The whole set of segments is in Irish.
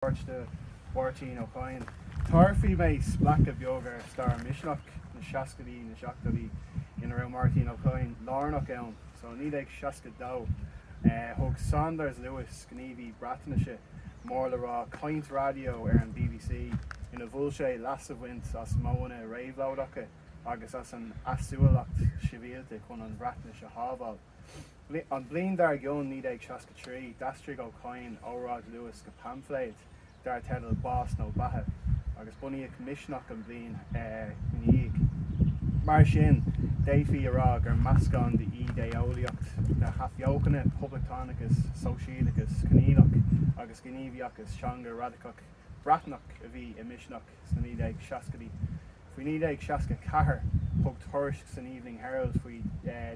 Páirt de Mháirtín Ó Cadhain. Tabharfaidh mé spléachadh beag ar stair Misneach na seascaidí, na seachtóidí, ina raibh Máirtín Ó Cadhain lárnach ann. So, i 1962, thug Saunders Lewis, gníomhaí Breatnaise, mór le rá, caint raidió ar an BBC inar mhol sé leas a bhaint as modhanna réabhlóideacha agus as an easumhlaíocht shibhialta chun an Bhreatnais a shábháil. An bhliain dár gcionn, 1963, d'aistrigh Ó Cadhain óráid Lewis go paimfléad dar teideal Bás nó Beatha, agus bunaíodh Misneach an bhliain ina dhiaidh. Mar sin, d'fhéadfaí a rá gur meascán d'idé-eolaíocht na hAthbheochana, poblachtánachas, sóisialachas Conghaileach, agus gníomhaíochas teanga radacach Breatnach a bhí i Misneach. sna 1960idí. Faoi 1964 thug tuairisc san Evening Herald faoi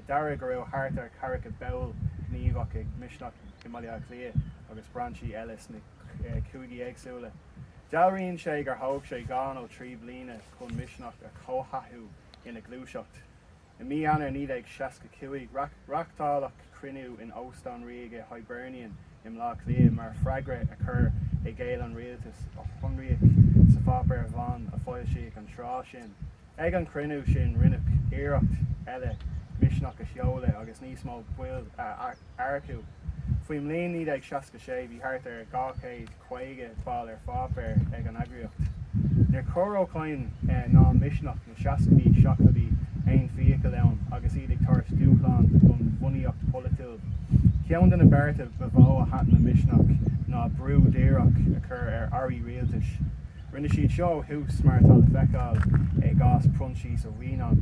deara go raibh thart ar cheathracha ball gníomhach ag Misneach i mBaile Átha Cliath agus brainsí eile sna cúigí éagsúla. Dealraíonn sé gur thóg sé dhá nó trí bliana chun Misneach a chomhthathú ina ghluaiseacht. I Mí Eanáir 1965, reáchtáladh cruinniú in Óstán Ríoga Hibernian i mBleá Cliath mar freagra ar chur i gcéill an rialtais, a shonraíodh sa pháipéar bhán a foilsíodh an tráth sin. Ag an chruinniú sin rinneadh iarracht eile Misneach a sheoladh agus níos mó baill a earcú. Faoin mbliain 1966 bhí thart ar 250 ball ar pháipéar ag an eagraíocht. Níor chuir Ó Cadhain ná Misneach na seascaidí, seachtóidí aon fiacail ann agus iad ag tabhairt dúshlán don bhunaíocht pholaitiúil. Ceann de na bearta ba mhó a thaitin le Misneach ná brú díreach a chur ar airí rialtais. Rinne siad seo ó thús, mar atá le feiceáil i gcás Proinsias Ó Mianáin.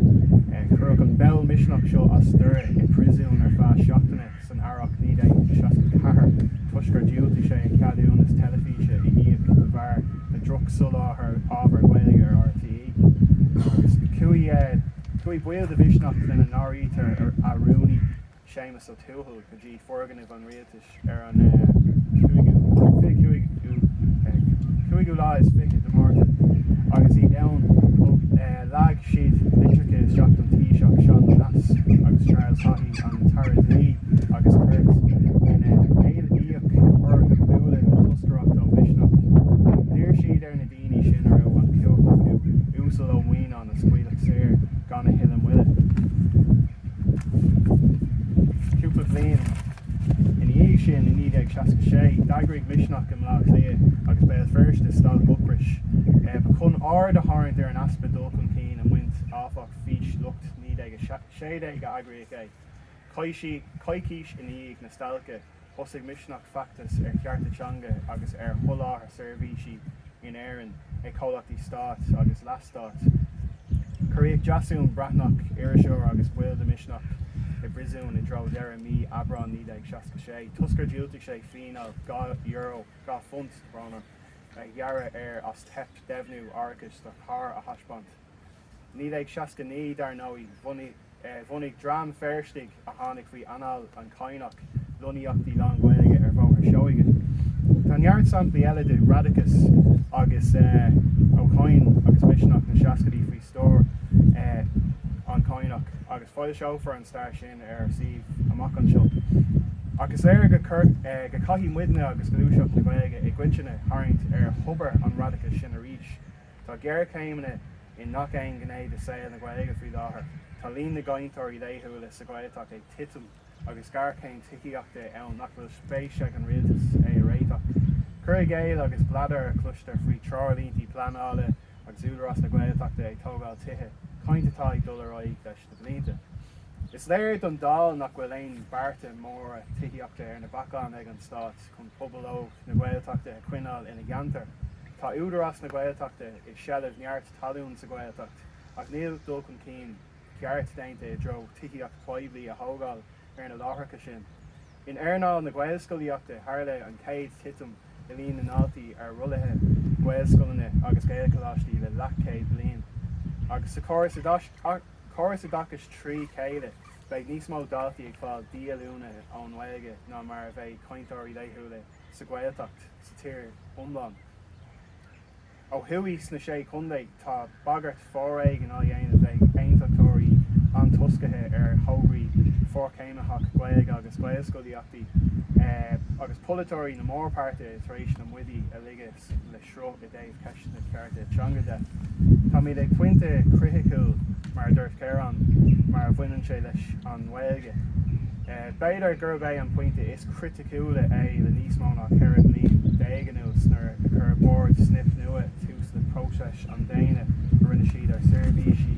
Cuireadh an ball Misneach seo as Doire i bpríosún ar feadh seachtaine san earrach 1964 toisc gur dhiúltaigh sé a cheadúnas teilifíse a íoc de bharr na drochsholáthair ábhair Ghaeilge ar RTÉ. Agus chuaigh baill de Mhisneach, lena n-áirítear a rúnaí, Séamus Ó Tuathail go dtí foirgnimh an rialtais ar an 5ú lá is fiche de Mhárta agus iad ann leag siad litreacha isteach don Taoiseach Seán Lemass agus Charles Haughey an tAire Dlí agus Cirt ina n-éilíodh orthu bualadh le toscaireacht ó Mhisneach. D'iarr siad ar na daoine sin a raibh an chumhacht acu Uasal Ó Mianáin a scaoileadh saor gan a thuilleadh moille. Cúpla bliain ina dhiaidh sin, i 1966, d'eagraigh Misneach i mBleá Cliath agus Béal Feirste stailc ocrais. Chun aird a tharraingt ar an easpa dul chun cinn i mbaint amach fís lucht 1916 a eagraíodh é. Coicís i ndiaidh na stailce. Thosaigh Misneach feachtas ar chearta teanga agus ar sholáthar seirbhísí in Éirinn ag comhlachtaí stáit agus leathstáit. Cuireadh Deasún Breathnach, iriseoir agus ball de Misneach, i bpríosún i dtreo dheireadh mhí Aibreáin 1966 toisc gur dhiúltaigh sé fíneáil dhá euro, dhá phunt, a gearradh air as teip deimhniú árachais do charr a thaispeáint. 1969, dar ndóigh, bhunaigh dream Feirsteach a tháinig faoi anáil an Chadhnaigh lonnaíocht lánGhaeilge ar Bhóthar Seoighe. Tá neart samplaí eile de radachas agus Ó Cadhain agus Misneach na seascaidí faoi stiúir an Chadhnaigh agus foilseofar an stair sin ar ár suíomh amach anseo. Ach is léir go caithfidh muidne agus gluaiseacht na Gaeilge i gcoitinne tarraingt ar thobar an radachais sin arís Tá géarchéimeanna i ngach aon ghné de saol na Gaeilge faoi láthair. Tá líon na gcainteoirí laethúla sa Ghaeltacht ag titim agus géarchéim tithíochta ann nach bhfuil spéis ag an rialtas é a réiteach. Cur i gcéill agus bladar a chloistear faoi threoirlíntí pleanála agus Údarás na Gaeltachta ag tógáil tithe, caint atá ag dul ar aghaidh leis na blianta. Is léir don dall nach bhfuil aon bhearta móra tithíochta ar na bacáin ag an stát. chun pobal óg na Gaeltachta a choinneáil ina gceantar. Tá Údarás na Gaeltachta i seilbh neart talún sa Ghaeltacht ach níl dul chun cinn ceart déanta i dtreo tithíocht phoiblí a thógáil ar na láithreacha sin. In earnáil na Gaelscolaíochta tharla an chéad titim i líon na ndaltaí ar rollaí Gaelscoileanna agus Gaelcholáistí le leathchéad bliain agus sa chóras oideachais trí chéile. Beidh níos mó daltaí ag fáil díolúine ón nGaeilge ná mar a bheidh cainteoirí laethúla sa Ghaeltacht sa tír iomlán. Ó thuaidh sna Sé Chontae tá bagairt foréigin á dhéanamh ag aontachtóirí antoisceacha ar thograí forchéimnitheacha Gaeilge agus Gaelscolaíochta agus polaiteoirí na mórpháirtithe tar éis na maidí a ligean le sruth i dtaobh ceisteanna cearta teanga de. Táimid ag pointe criticiúil, mar a dúirt Kerron, mar a bhaineann sé leis an nGaeilge. B'fhéidir gurb é an pointe is criticiúla é le níos mó ná 14 bliain anuas nuair a chuir Bord Snip Nua tús le próiseas na déine a rinne slad ar sheirbhísí